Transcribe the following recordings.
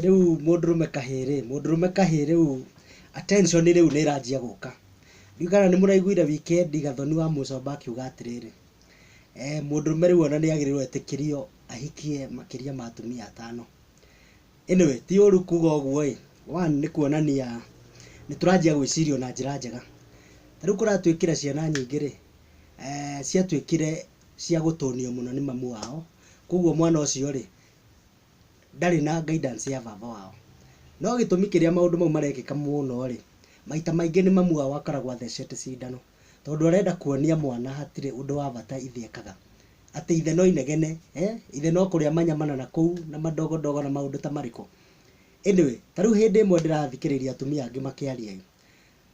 Rĩu mũndũrũme kahĩĩ rĩ, mũndũrũme kahĩĩ rĩu attention rĩu nĩ ĩranjia gũka. Ndiũĩ kana nĩ mũraiguire weekend Gathoni wa Mũcomba akiuga atĩrĩrĩ, mũndũrũme rĩu ona nĩ agĩrĩirwo etĩkĩrio ahikie makĩria ma atumia atano. Anyway, ti ũru kuuga ũguo ĩ, one nĩ kuonania nĩ tũranjia gwĩciria ona njĩra njega. Ta rĩu kũratuĩkire ciana nyingĩ rĩ, ciatuĩkire cia gũtũnio mũno nĩ mamu wao, kũguo mwana ũcio rĩ, ndarĩ na guidance ya baba wao. No gĩtũmi kĩrĩa maũndũ mau marekĩka mũno rĩ, maita maingĩ nĩ mamu wao akoragwo athecete cindano, tondũ arenda kuonia mwana hatirĩ ũndũ wa bata ithe ekaga. Atĩ ithe no inegene, ithe no kũrĩa manyamana na kũu na madogo dogo na maũndũ ta marĩkũ. Anyway, ta rĩu hĩndĩ ĩmwe ndĩrathikĩrĩria atumia angĩ makĩaria ĩ,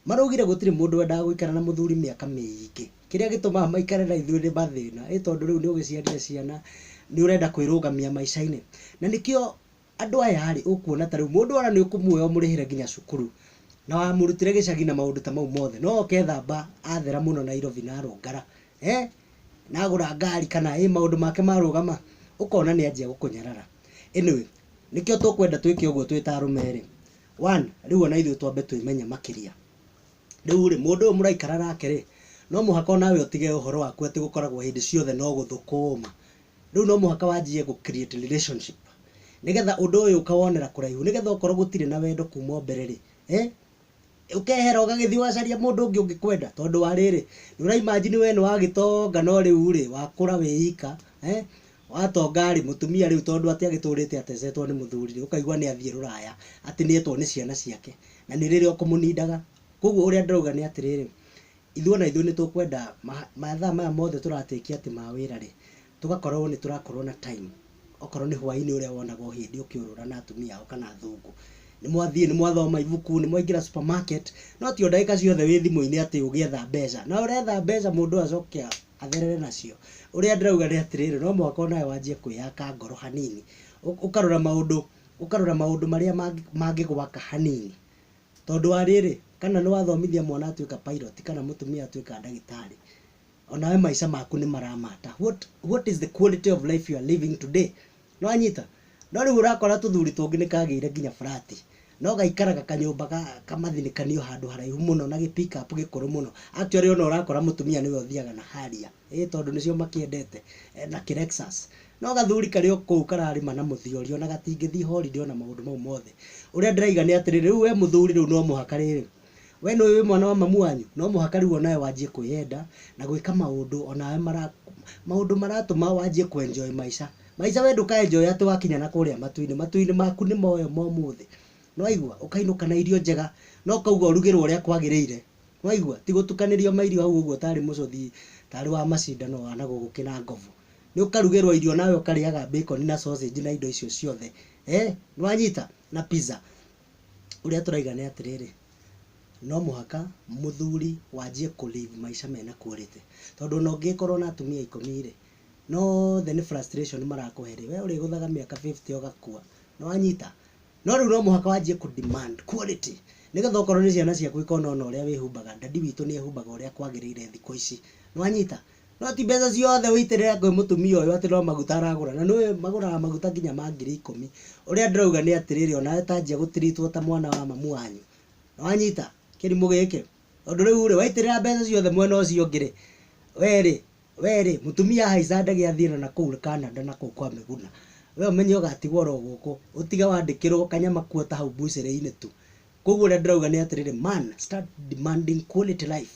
Maraugire gũtirĩ mũndũ wendaga gũikara na mũthuri mĩaka mĩingĩ. Kĩrĩa gĩtũmaga maikare na ithuĩ nĩ mathĩna. Ĩ tondũ rĩu nĩ ũgĩciarire ciana, nĩ ũrenda kwĩrũgamia maica-inĩ. Na nĩkĩo andũ aya rĩ, ũkuona ta rĩu mũndũ ona nĩ ũkũmuoya ũmũrĩhĩre nginya cukuru. Na wamũrutire gĩcagi na maũndũ ta mau mothe. No oke ethamba athera mũno Nairobi na arũngara. Na agũra ngari kana ĩ maũndũ make marũgama, ũkona nĩ anjia gũkũnyarara. Anyway, nĩkĩo tũkwenda twĩke ũguo twĩ ta arũme rĩ, One, rĩu o na ithuĩ twambe twĩmenye makĩria. Rĩu-rĩ, mũndũ ũyũ mũraikara nake-rĩ, no mũhaka o nawe ũtige ũhoro waku atĩ gũkoragwo hĩndĩ ciothe no gũthũkũũma. Rĩu no mũhaka wanjie gũ create relationship nĩ getha ũndũ ũyũ ũkawonera kũraihu, nĩ getha okorwo gũtirĩ na wendo kuma o mbere-rĩ, eeh, ũkehera ũgagĩthiĩ ũgacaria mũndũ ũngĩ ũngĩkwenda. Tondũ wa rĩrĩ, nĩ ũra imagine wee nĩ wa gĩtonga no rĩu-rĩ, wakũra wĩ ika, eeh, Watonga rĩ, mũtumia rĩu tondũ atĩ agĩtũrĩte atecetwo nĩ mũthuri rĩ, ũkaigua nĩ athiĩ rũraya, atĩ nĩ etwo nĩ ciana ciake, na nĩ rĩrĩa ũkũmũnindaga. Kũguo ũrĩa ndĩrauga nĩ atĩrĩrĩ, ithuĩ ona ithuĩ nĩ tũkwenda mathaa maya mothe tũra take atĩ ma wĩra rĩ, tũgakorwo nĩ tũrakorwo na time, okorwo nĩ hwainĩ ũrĩa wonaga o hĩndĩ ũkĩũrũra na atumia ao kana athũngũ. Nĩ mwathiĩ nĩ mwathoma ibuku, nĩ mwaingĩra supermarket, no ti o ndagĩka ciothe wĩ thimũ-inĩ atĩ ũgĩetha mbeca. Na ũretha mbeca mũndũ ũyũ acoke atherere nacio. Ũrĩa ndĩrauga nĩ atĩrĩrĩ, no mũhaka o nawe wanjie kwĩyaka ngoro hanini, ũkarora maũndũ, ũkarora maũndũ marĩa mangĩgwaka hanini. Tondũ wa rĩrĩ, kana nĩ wathomithia mwana atuĩka pilot kana mũtumia atuĩka ndagĩtarĩ, o nawe maica maku nĩ mara matter. What is the quality of life you are living today? Nĩ wanyita? No rĩu ũrakora tũthuri tũngĩ nĩ kagĩire nginya flat. No gaikaraga kanyũmba ga kamathinĩkanio handũ haraihu mũno na gĩ pick up gĩkũrũ mũno. Actually ona ũrakora mũtumia nĩwe ũthiaga na Harrier. Ĩĩ tondũ nĩcio makĩendete. Na kĩ Lexus. No gathuri karĩ o kũu kararĩma na mũthiorio ona gatingĩthiĩ holiday ona maũndũ mau mothe. Ũrĩa ndĩraiga nĩ atĩrĩrĩ, rĩu we mũthuri rĩu no mũhaka rĩrĩ, We nĩũĩ wĩ mwana wa mamu wanyu? No mũhaka rĩu o nawe wanjie kwĩyenda na gwĩka maũndũ o nawe mara, maũndũ maratũma wanjie kũ enjoy maica. Maica we ndũka enjoy atĩ wakinya na kũrĩa matu-inĩ. Matu-inĩ maku nĩ moyo ma ũmũthĩ. Nĩ waigua? Ũkainũka na irio njega na ũkauga ũrugĩrwo ũrĩa kwagĩrĩire. Nĩ waigua? Ti gũtukanĩrio mairio hau ũguo tarĩ mũcũthi, tarĩ wa macindano wa na gũgũkĩ na ngobu. Nĩ ũkarugĩrwo irio nawe ũkarĩaga bacon na sausage na indo icio ciothe. Eeh? Nĩ wanyita? Na pizza. ũrĩa tũraiga nĩ atĩrĩrĩ, no mũhaka mũthuri wanjie kũ live maica mena quality. Tondũ ona ũngĩgĩkorwo na atumia ikũmi rĩ, no othe nĩ frustration marakũhe rĩ, we ũrĩgũthaga mĩaka fifty ũgakua. Nĩ wanyita? No rĩu no mũhaka wanjie kũ demand quality. Nĩgetha okorwo nĩ ciana ciaku ikona ona ũrĩa wĩhumbaga, daddy witũ nĩ ehumbaga ũrĩa kwagĩrĩire thikũ ici. Nĩ wanyita? No ti mbeca ciothe ũitĩrĩra kwĩ mũtumia ũyũ atĩ no maguta aragũra, na nĩũĩ magũraga maguta nginya ma ngiri ikũmi. Ũrĩa ndĩrauga nĩ atĩrĩrĩ, onawe ta anjia gũ treat wo ta mwana wa mamu wanyu. Nĩwanyita? Kĩrimũ gĩkĩ. Tondũ rĩurĩ, waitĩrĩra mbeca ciothe mwena ũcio ũngĩrĩ, werĩ, werĩ, mũtumia ahaica ndege athiĩ na nakũu Canada nakũu kwa Mĩguna. We ũmenye ũgatigwo oro gũkũ. Ũtige wandĩkĩrwo kanyama kuota hau mbucĩrĩ-inĩ tu. Kuoguo ũrĩa ndĩrauga nĩ atĩrĩrĩ, man, start demanding quality life.